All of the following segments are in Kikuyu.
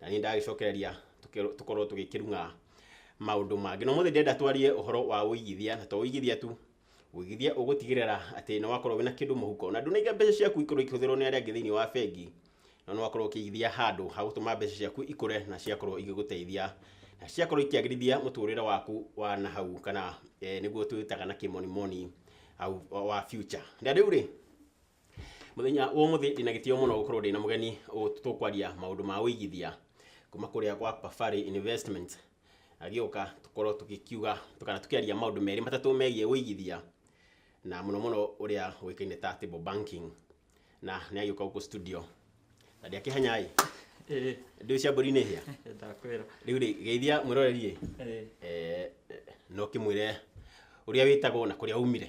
na niĩ ndagĩcokereria tũke- tũkorwo tũgĩkĩrung'a maũndũ mangĩ na ũmũthĩ ndĩrenda twarie ũhoro wa ũigithia na to ũigithia tu ũigithia ũgũtigĩrĩra atĩ nĩ wakorwo wĩna kĩndũ mũhuko na ndũnaiga mbeca ciaku ikorwo ikĩhũthĩrwo nĩ arĩa angĩ thĩinĩ wa bengi no nĩ wakorwo ũkĩigithia handũ ha gũtũma mbeca ciaku ikũre na ciakorwo igĩgũteithia na ciakorwo ikĩagĩrithia mũtũrĩre waku wa na hau kana eh, nĩguo twĩtaga na kĩmonimoni au- wa future na rĩu rĩ Mũthenya wa ũmũthĩ ndĩna gĩtĩo mũno gũkorwo ndĩna mũgeni ũ- tũkwaria maũndũ ma ũigithia kuma kũrĩa gwa Pafari Investments agĩũka tũkorwo tũgĩkiuga kana tũkĩaria maũndũ merĩ matatũ megiĩ ũigithia na mũno mũno ũrĩa ũĩkaine ta table banking na nĩ agĩũka gũkũ studio na ndĩakĩhanya ĩ Ĩĩ, ndĩũ cia mbũri nĩ hĩa ndakwĩra. rĩu rĩ geithia mwĩroreri ĩ Ĩĩ. eh, no kĩmwĩre ũrĩa wĩtagwo na kũrĩa umire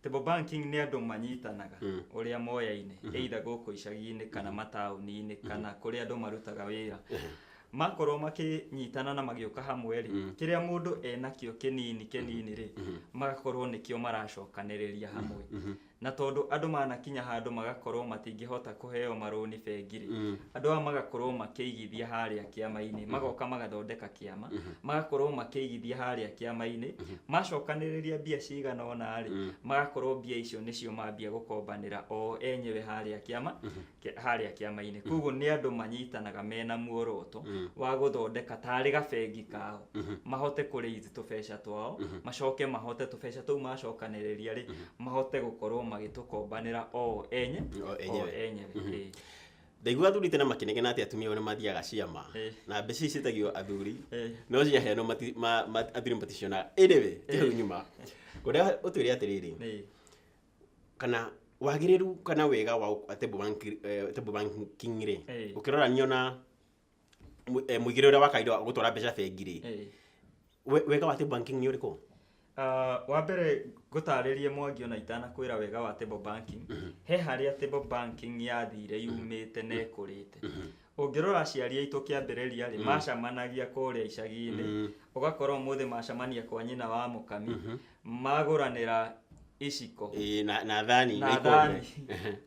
Table banking nĩ andũ manyitanaga Mm. ũrĩa moyaine either gũkũ icagi-inĩ kana mataũni-inĩ kana kũrĩa andũ marutaga wĩra makorwo makĩnyitana na magĩũka hamwe rĩ Mm. kĩrĩa mũndũ enakĩo kĩnini kĩnini rĩ Mhm. magakorwo nĩkĩo maracokanĩrĩria hamwe Mhm. na tondũ andũ manakinya handũ magakorwo matingĩhota kũheo marũni bengi rĩ Mm. andũ aya magakorwo makĩigithia harĩa kĩama-inĩ magoka magathondeka kĩama Mhm. magakorwo makĩigithia harĩa kĩama-inĩ macokanĩrĩria mbia cigana ona rĩ magakorwo mbia icio nĩcio mambia gũkombanĩra o enyewe harĩa kĩama kĩ- harĩa kĩama-inĩ koguo nĩ andũ manyitanaga mena muoroto wa gũthondeka tarĩ gabengi kao mahote kũrĩithi tũbeca twao macoke mahote tũbeca tũu macokanĩrĩria rĩ mahote gũkorwo magĩtũkombanĩra o enye O enyewe. o enyewe Ĩĩ. Ndaigua athuri tene makĩnegena atĩ atumia ao nĩ mathiaga ciama Eh. na mbeca ici ciĩtagio athuri Eh. no ciaheanwo mati- ma- ma- athuri maticionaga ĩnĩwe kĩhau nyuma ũrĩa ũtwĩre atĩrĩrĩ Nĩ. kana wagĩrĩru kana wega wa ũ- table banking- eh, table banking rĩ Eh. ũkĩrora niona mũ- eh, mũigĩre ũrĩa wa kawaida wa gũtwara mbeca bengi-rĩ Eh. we- wega wa table banking nĩ ũrĩkũ Ah, wa mbere ngũtarĩrie mwangi ona itanakwĩra wega wa table banking he harĩa table banking yathire yumĩte na ĩkũrĩte ũngĩrora aciari aitũ kĩambĩrĩria rĩ macamanagia kũrĩa icagi-inĩ ũgakora ũmũthĩ macamania kwa nyina wa mũkami magũranĩra iciko Ĩĩ, na na thani na ikombe. thani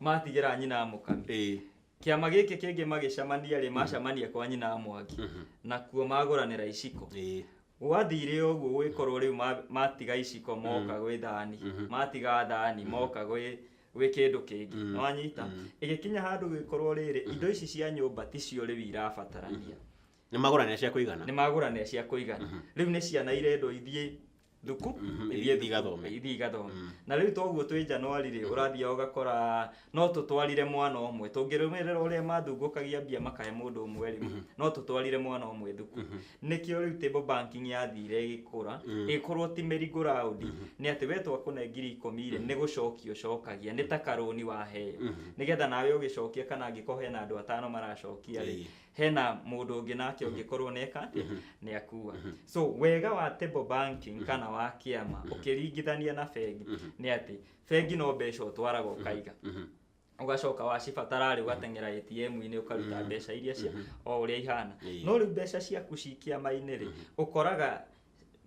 matigĩra nyina wa mũkami Ĩĩ. Kĩama gĩkĩ kĩngĩ magĩcamania rĩ, macamania kwa nyina wa Mwangi, nakuo magũranĩra iciko. Ĩĩ. Gwathire ũguo gũgĩkorwo rĩu ma- matiga iciko moka gwĩ thani, matiga thani moka gwĩ gwĩ kĩndũ kĩngĩ nĩwanyita ĩgĩkinya handũ gĩkorwo rĩrĩ indo ici cia nyũmba ticio rĩu irabatarania Nĩ magũranĩra cia kũigana. nĩ magũranĩra cia kũigana rĩu nĩ ciana irendwo ithiĩ thuku Mhm, ithiĩ ithiĩ igathome. ithiĩ igathome Mm. na rĩu toguo twĩ njanwarĩ rĩ ũrathiaga ũgakora no tũtwarire mwana ũmwe tũngĩrũmĩrĩra ũrĩa mathungũkagia mbia makahe mũndũ ũmwe rĩ no tũtwarire mwana ũmwe thuku nĩkĩo rĩu table banking yathire ĩgĩkũra ĩgĩkorwo ti mĩringo raundi nĩ atĩ we twakũne ngiri ikũmi rĩ nĩ gũcokia ũcokagia nĩ ta karũni waheo nĩgetha nawe ũgĩcokia kana angĩkorwo hena andũ atano maracokia rĩ Ĩĩ. hena mũndũ ũngĩ nake ũngĩkorwo neka atĩ nĩ akua so wega wa table banking kana wa kĩama ũkĩringithania na bengi nĩ atĩ bengi no mbeca ũtwaraga ũkaiga ũgacoka wacibatara rĩ ũgateng'era ATM-inĩ ũkaruta mbeca iria cia o ũrĩa ihana Ĩĩ. no rĩu mbeca ciaku ci kĩama-inĩ rĩ ũkoraga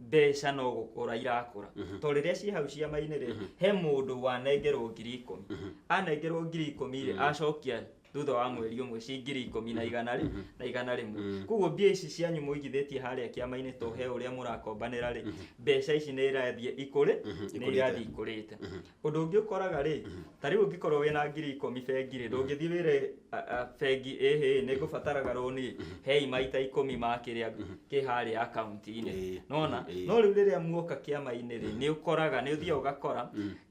mbeca no gũkũra irakũra Mhm. to rĩrĩa ciĩ hau ciama-inĩ rĩ Mhm. he mũndũ wanengerwo ngiri ikũmi Mhm. anengerwo ngiri ikũmi rĩ Mhm. acokia thutha wa mweri ũmwe ci ngiri ikũmi na igana rĩ Mhm. na igana rĩmwe Mhm. koguo mbia ici cianyu mũigithĩtie harĩa kĩama-inĩ to he ũrĩa mũrakombanĩra rĩ mbeca ici nĩ irathiĩ ikũrĩ Mhm, nĩ ikũrĩte. irathiĩ ikũrĩte Mhm. ũndũ ũngĩ ũkoraga rĩ ta rĩu ũngĩkorwo wĩna ngiri ikũmi bengi rĩ ndũngĩthiĩ wĩre a- a, bengi ĩhĩ nĩ ngũbataraga rũni hei maita ikũmi ma kĩrĩa kĩ harĩa akaunti-inĩ Ĩĩ, nona ĩĩ. no rĩu rĩrĩa muoka kĩama-inĩ rĩ nĩ ũkoraga nĩ ũthiaga ũgakora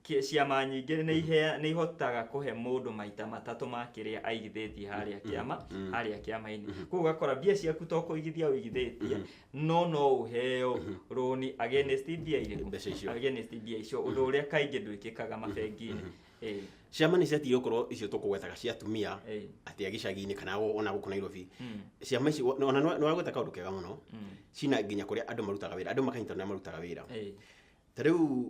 kĩ- ciama nyingĩ nĩ ihea- nĩ ihotaga kũhe mũndũ maita matatũ ma kĩrĩa aigithĩtie harĩa kĩama harĩa kĩama-inĩ koguo ũgakora mbia ciaku to kũigithia ũigithĩtie no no ũheo rũni against mbia irĩkũ Mbeca icio. against mbia icio ũndũ ũrĩa kaingĩ ndwĩkĩkaga mabengi-inĩ Eh, ciama nĩ ciatiĩ gũkorwo icio tũkũgwetaga cia atumia Eh. atĩ a gĩcagi-inĩ kana o- ona gũkũ nairobi Mm. ciama ici o- ona nĩ wagweta kaũndũ kega mũno Mm. cina nginya kũrĩa andũ marutaga wĩra andũ makanyita nĩa marutaga wĩra eh, ta rĩu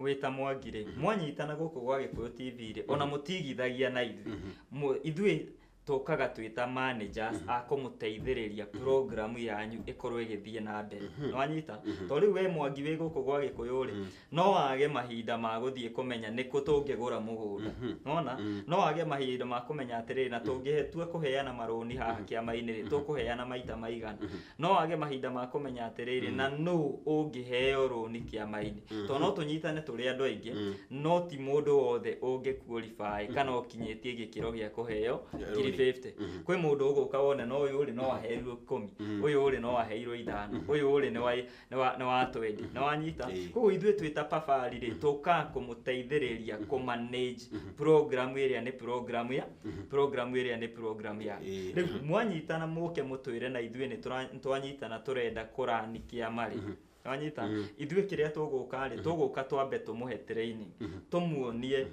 wĩta mwangi rĩ mwanyitana gũkũ gwa gĩkũyũ tv rĩ ona mũtigithagia na ithuĩ Mũ- ithuĩ tũkaga twĩ ta managers a kũmũteithĩrĩria programu yanyu ĩkorwo ĩgĩthiĩ na mbere nĩwanyita to rĩu we mwangi wĩ gũkũ gwa gĩkũyũ rĩ no wage mahinda ma gũthiĩ kũmenya nĩkũ tũngĩgũra mũgũnda nona no wage mahinda ma kũmenya atĩrĩrĩ na tũngĩtua kũheana marũni haha kĩama-inĩ rĩ tũkũheana maita maigana no wage mahinda ma kũmenya atĩrĩrĩ na nũ ũngĩheo rũni kĩama-inĩ to no tũnyitane tũrĩ andũ aingĩ no ti mũndũ wothe ũngĩkuorify kana ũkinyĩtie gĩkĩro gĩa kũheo ngiri 50 kwĩ mũndũ ũgũka wone no ũyũ rĩ no aheirwo ikũmi ũyũ rĩ no aheirwo ithano ũyũ rĩ nĩ wa nĩ wa- nĩ watwendi nĩ wanyita Ĩĩ. koguo ithuĩ twĩ ta pabarĩ rĩ tũka kũmũteithĩrĩria kũmanage program ĩrĩa nĩ program ya program ĩrĩa nĩ program ya Ĩĩ. rĩu mwanyitana mũke mũtwĩre na ithuĩ nĩ tũra- nĩ twanyitana tũrenda kũrani kĩama rĩ wanyita ithuĩ kĩrĩa tũgũka rĩ tũgũka twambe tũmũhe training tũmuonie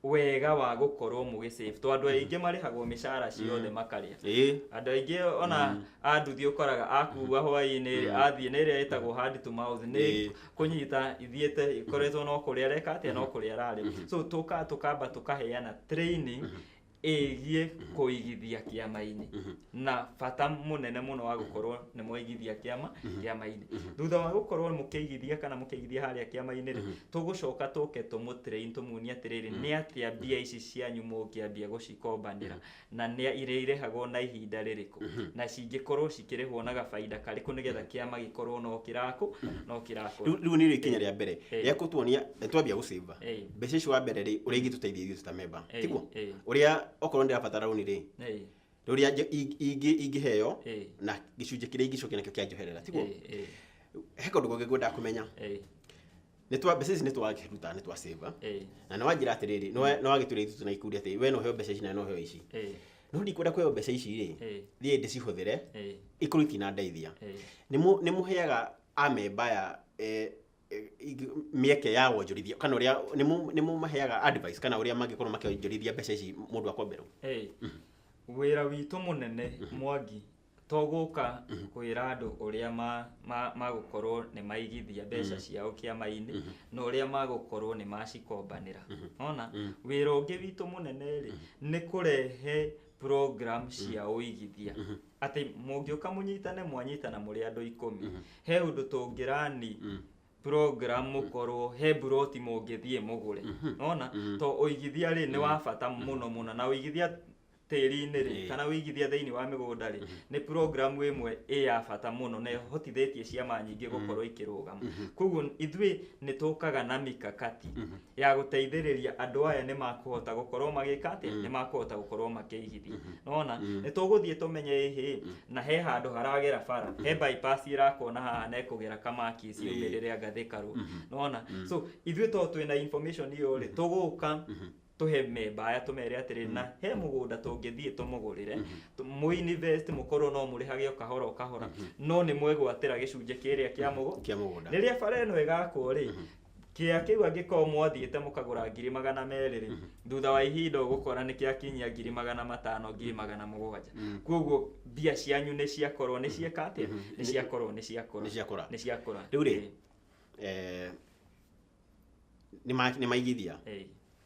wega wa gũkorwo mũgĩ save to andũ aingĩ marĩhagwo mĩcara ciothe Mm. makarĩa ĩĩ andũ aingĩ ona Mm. anduthi ũkoraga akua hwainĩ Mm. athiĩ nĩ ĩrĩa ĩtagwo hand to mouth nĩ Ĩĩ. kũnyita ithiĩte ikoretwo no kũrĩa areka atĩa no kũrĩa ararĩ so tũka tũkamba tũkaheana training ĩgiĩ kũigithia kĩama-inĩ na bata mũnene mũno wa gũkorwo nĩ mwaigithia kĩama kĩama-inĩ thutha wa gũkorwo mũkĩigithia kana mũkĩigithia harĩa kĩama-inĩ rĩ tũgũcoka tũke tũmũtĩrĩin tũmuonie atĩrĩrĩ nĩ atĩa mbia ici cianyu mũngĩambia gũcikombanĩra na nĩ irĩrĩhagwo na ihinda rĩrĩkũ na cingĩkorwo cikĩrĩhwo na gabainda karĩkũ nĩgetha kĩama gĩkorwo no kĩrakũ no kĩrakũra rĩu rĩu nĩ ikinya rĩa mbere Eh. rĩa gũtuonia nĩ twambia gũcĩmba Ĩĩ. mbeca icio wa mbere rĩ ũrĩa ingĩtũteithia ithuĩ ta memba Ĩĩ, tiguo ĩĩ. ũrĩa okorwo ndĩrabatara rũni rĩ Ĩĩ. rũrĩa nje- ing- ingĩ- ingĩheo Ĩĩ. na gĩcunjĩ kĩrĩa ingĩcokia nakĩo kĩa njoherera tiguo Ĩĩ, ĩĩ, he kaũndũ kangĩ ngwendaga kũmenya ĩĩ, Nĩ twa- mbeca ici nĩ twaruta nĩ twa save ĩĩ, na nĩ wanjĩra atĩrĩrĩ nĩ wa- nĩ wagĩtwĩra ithuĩ tũna ikundi atĩ we no heo mbeca ici na no heo ici ĩĩ, no ndikwenda kũheo mbeca ici rĩ ĩĩ, thiĩ ndĩcihũthĩre ĩĩ, ikorwo itinandeithia ĩĩ. nĩ mũ- nĩ mũheaga amemba ya eh, mĩeke ya wonjorithia kana ũrĩa nĩ mũmaheaga advice kana ũrĩa mangĩkorwo makĩonjorithia mbeca ici mũndũ akomberwo wĩra witũ mũnene mwangi to gũka kwĩra andũ ũrĩa magũkorwo nĩ maigithia mbeca ciao kĩama-inĩ na ũrĩa magũkorwo nĩ macikombanĩra ona wĩra ũngĩ witũ mũnene rĩ nĩ kũrehe program cia ũigithia atĩ mũngĩũka mũnyitane mwanyitana mũrĩ andũ ikũmi Mhm. he ũndũ tũngĩrani Mm. program mũkorwo he mburoti mũngĩthiĩ mũgũre Mhm. nona Mhm. to ũigithia rĩ nĩ wa bata mũno mũno na ũigithia tĩri-inĩ rĩ Ĩĩ. kana ũigithia thĩinĩ wa mĩgũnda rĩ nĩ program ĩmwe ĩ ya bata mũno na ĩhotithĩtie ciama nyingĩ gũkorwo ikĩrũgama Mhm. koguo ithuĩ nĩ tũkaga na mikakati Mhm. ya gũteithĩrĩria andũ aya nĩ makũhota gũkorwo magĩka atĩ nĩ makũhota gũkorwo makĩigithia nona nĩ tũgũthiĩ tũmenye ĩhĩ na he handũ haragera bara he bypass ĩrakwo na haha na ĩkũgera kamaki ciumĩrĩre angathĩkarwo nona so ithuĩ to twĩna information iyo rĩ tũgũka tũhe memba aya tũmere atĩrĩ na he mũgũnda tũngĩthiĩ tũmũgũrĩre tũ- mũinvest mũkorwo no mũrĩhage o kahora o kahora no nĩ mwegwatĩra gĩcunjĩ kĩrĩa kĩa mũgũnda kĩa mũgũnda rĩrĩa bara ĩno ĩgakwo rĩ kĩa kĩu angĩkorwo mwathiĩte mũkagũra ngiri magana merĩ rĩ thutha wa ihinda ũgũkora nĩ kĩakinyia ngiri magana matano ngiri magana mũgwanja kwoguo mbia cianyu nĩ ciakorwo nĩ cieka atĩa nĩ ciakorwo nĩ ciakũra Nĩ ciakũra. nĩ ciakũra Rĩu rĩ, eh, nĩ ma- nĩ maigithia Ĩĩ.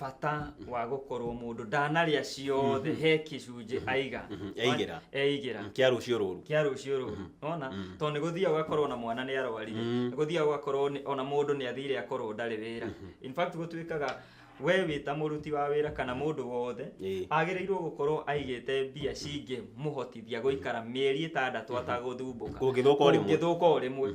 bata wa gũkorwo mũndũ ndanarĩa ciothe mm -hmm. he kĩcunjĩ mm -hmm. aiga mm -hmm. eigĩra eigĩra mm, kĩa rũciũ rũru kĩa rũciũ rũru mm -hmm. ona mm -hmm. tondũ nĩgũthiaga ũgakorwo na mwana nĩ arwarire mm -hmm. nĩgũthiaga ũgakorwo ona mũndũ nĩ athire akorwo ndarĩ wĩra mm -hmm. in fact gũtuĩkaga we wä ta må ruti wa wä ra kana må ndå wothe agä rä irwo gå korwo aigä te mbia cingä må hotithia gå ikara mä eri ä tandatå atagå thumbå ka å ngä thå ka o rä mwe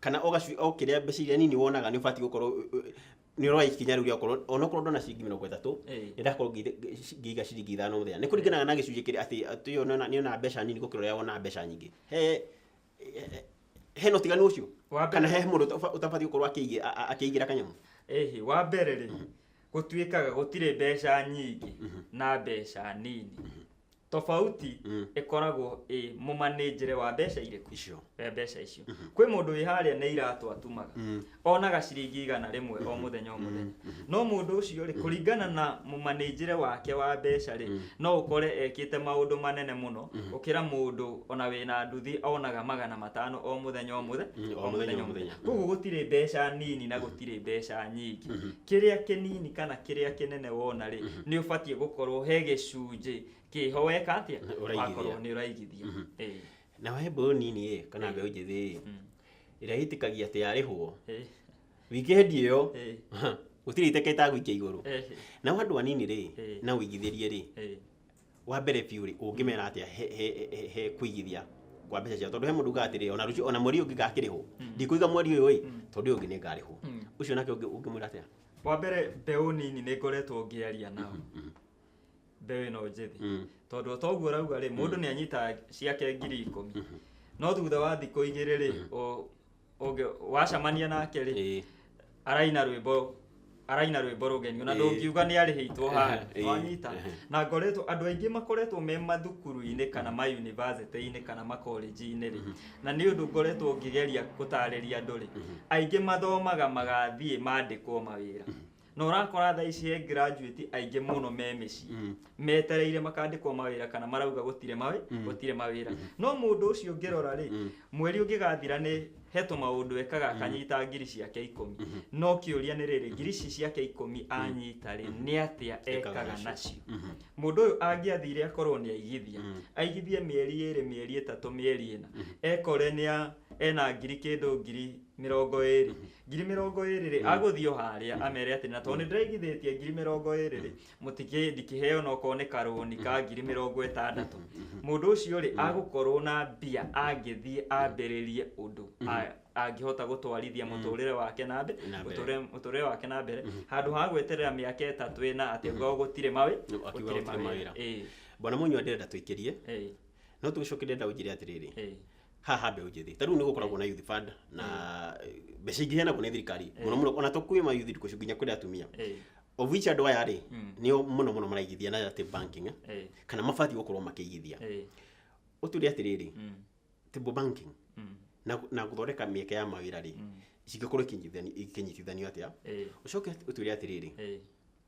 kana o gacui o kĩrĩa mbeca iria nini wonaga nĩ ũbatiĩ gũkorwo ũ- ũ- nĩ ũroya ikinya rĩu rĩa gũkorwo onokorwo ndona ciringi mĩrongo ĩtatũ Eh. nĩ ndakorwo ngĩiga- ngĩ- ngĩiga ciringi ithano mũthenya nĩ kũringanaga na gĩcunjĩ kĩrĩa atĩ atĩ ũyũ nĩona- nĩonaga mbeca nini gũkĩra ũrĩa wonaga mbeca nyingĩ he he- hena ũtiganu ũcio Wa mbere- kana he mũndũ ũta- ũtabatiĩ gũkorwo akĩigĩ- a- a- akĩigĩra kanyamũ ĩhĩ wa mbere rĩ gũtuĩkaga gũtirĩ mbeca nyingĩ na mbeca nini tofauti Mm. ĩkoragwo ĩ mũmanĩnjĩre wa mbeca irĩkũ icio wa mbeca icio kwĩ mũndũ wĩ harĩa nĩ iratũ atumaga Mm. onaga ciringi igana rĩmwe o mũthenya o mũthenya no mũndũ ũcio rĩ kũringana na mũmanĩnjĩre wake wa mbeca rĩ no ũkore ekĩte maũndũ manene mũno gũkĩra mũndũ ona wĩna nduthi onaga magana matano o mũthenya o mũthenya Mm, o mũthenya, o mũthenya. koguo gũtirĩ mbeca nini na gũtirĩ mbeca nyingĩ kĩrĩa kĩnini kana kĩrĩa kĩnene wona rĩ Mhm. nĩ ũbatiĩ gũkorwo he gĩcunjĩ kĩho weka atĩa Ũraigithia. wakorwo nĩ ũraigithia Mhm. Ĩĩ, na we mbeũ nini ĩ kana Ĩĩ. mbeũ njĩthĩ ĩ mm, ĩrĩa ĩtĩkagia atĩ yarĩhwo ĩĩ, wikendi ĩyo ĩĩ, gũtirĩ iteka ĩtagũikia igũrũ ĩĩ, nao andũ anini rĩ Ĩĩ. na ũigithĩrie rĩ ĩĩ. wa mbere biũ rĩ ũngĩmera atĩa he, he, he, he kũigithia kwa mbeca ciao tondũ he mũndũ ugaga atĩrĩ ona rũciũ ona mweri ũngĩ ngakĩrĩhwo ndikũiga mweri ũyũ ĩ tondũ ũyũ ũngĩ nĩ ngarĩhwo ũcio nake ũngĩ- ũngĩmwĩra atĩa wa mbere mbeũ nini nĩ ngoretwo ngĩaria nao mbeũ ĩno njĩthĩ Mm. tondũ o toguo rauga rĩ mũndũ nĩ anyitaga ciake ngiri ikũmi no thutha wa thikũ igĩrĩ rĩ o- ũngĩ wacamania nake rĩ Ĩĩ. araina rwĩmbo araina rwĩmbo rũgeni ona Ĩĩ. ndũngiuga nĩ arĩhĩitwo haha Ĩĩ. wanyita Ĩĩ. na ngoretwo andũ aingĩ makoretwo me mathukuru-inĩ kana ma university-inĩ kana makolenji-inĩ rĩ na nĩ ũndũ ngoretwo ngĩgeria gũtarĩria andũ rĩ aingĩ mathomaga magathiĩ mandĩkwo mawĩra na ũrakora thaa ici he graduate aingĩ mũno me mĩciĩ Mm. metereire makandĩkwo mawĩra kana marauga gũtirĩ mawĩ Mm. gũtirĩ mawĩra no mũndũ ũcio ũngĩrora rĩ Mm. mweri ũngĩgathira nĩ he tũmaũndũ ekaga akanyita ngiri ciake ikũmi no kĩũria nĩ rĩrĩ ngiri ici ciake ikũmi anyita rĩ nĩ atĩa ekaga nacio Mhm. mũndũ ũyũ angĩathire akorwo nĩ aigithia Mm. aigithie mĩeri ĩrĩ mĩeri ĩtatũ mĩeri ĩna ekore nĩ a- ena ngiri kĩndũ ngiri mĩrongo ĩrĩ ngiri mĩrongo ĩrĩ rĩ agũthiĩ o harĩa amere atĩ na tondũ nĩ ndĩraigithĩtie ngiri mĩrongo ĩrĩ rĩ mũtikĩ ndikĩheo na okorwo nĩ karũni ka ngiri mĩrongo ĩtandatũ mũndũ ũcio rĩ agũkorwo na mbia angĩthiĩ ambĩrĩrie ũndũ a- angĩhota gũtwarithia mũtũrĩre wake na mbere Na mbere. mũtũrĩre- mũtũrĩre wake na mbere handũ ha gweterera mĩaka ĩtatũ ĩna atĩ ngao gũtirĩ mawĩ Akiuga gũtirĩ mawĩra. Ĩĩ, bwana mũnyua ndĩrenda tũikĩrie ĩĩ, no tũgĩcoke ndĩrenda ũnjĩre atĩrĩrĩ ĩĩ. haha mbeũ njĩthĩ ta rĩu nĩ gũkoragwo na youth fund na mbeca ingĩ heanagwo nĩ thirikari mũno mũno ona to kwĩ ma youth ndukũ nginya kũrĩ atumia Eh, of which andũ aya rĩ Mm. nĩo mũno mũno maraigithia na atĩ banking eh, eh, kana mabatiĩ gũkorwo makĩigithia eh, ũtũre atĩrĩrĩ mm, table banking mm, na na gũthondeka mĩeke ya mawĩra rĩ mm, cingĩkorwo ikĩnyitithani- ikĩnyitithanio atĩa eh, ũcoke ũtwĩre atĩrĩrĩ eh,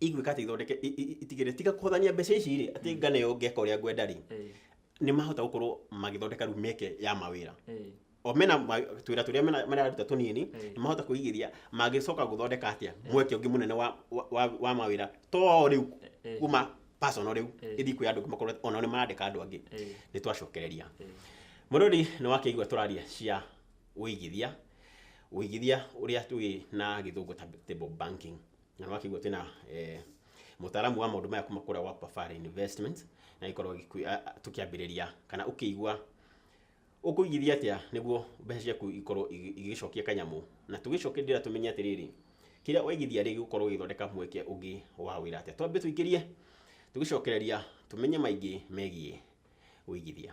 igwĩka atĩ ithondeke i- i- itigĩre tiga kũhũthania mbeca ici rĩ atĩ ngana ĩyo ngeka ũrĩa ngwenda rĩ Eh, nĩ mahota gũkorwo magĩthondeka rĩu mĩeke ya mawĩra eh, o mena ma- twĩra tũrĩa mena- mararuta tũnini Eh. nĩ mahota kũigithia mangĩcoka gũthondeka atĩa mweke ũngĩ mũnene wa, wa, wa, wa mawĩra to rĩu eh, kuma personal rĩu Eh. ĩthiĩ kwĩ andũ angĩ makorwo ona nĩ marandĩka andũ angĩ eh, nĩ twacokereria eh. mũrũri nĩ wakĩigua tũraria cia ũigithia ũigithia ũrĩa tũĩ na gĩthũngũ ta table banking na nä wakigua twä na eh, mũtaaramu wa maũndũ maya kuma kũrĩa gwa Pafari Investment na ikorwo tũkĩambĩrĩria kana ũkĩigua ũkũigithia atĩa nĩguo mbeca ciaku ikorwo igĩ- igĩgĩcokia kanyamũ na tũgĩcoke ndĩra tũmenye atĩrĩrĩ kĩrĩa waigithia rĩ gĩgũkorwo gĩgĩthondeka mweke ũngĩ wa wĩra atĩa twambe tũingĩrie tũgĩcokereria tũmenye maingĩ megiĩ ũigithia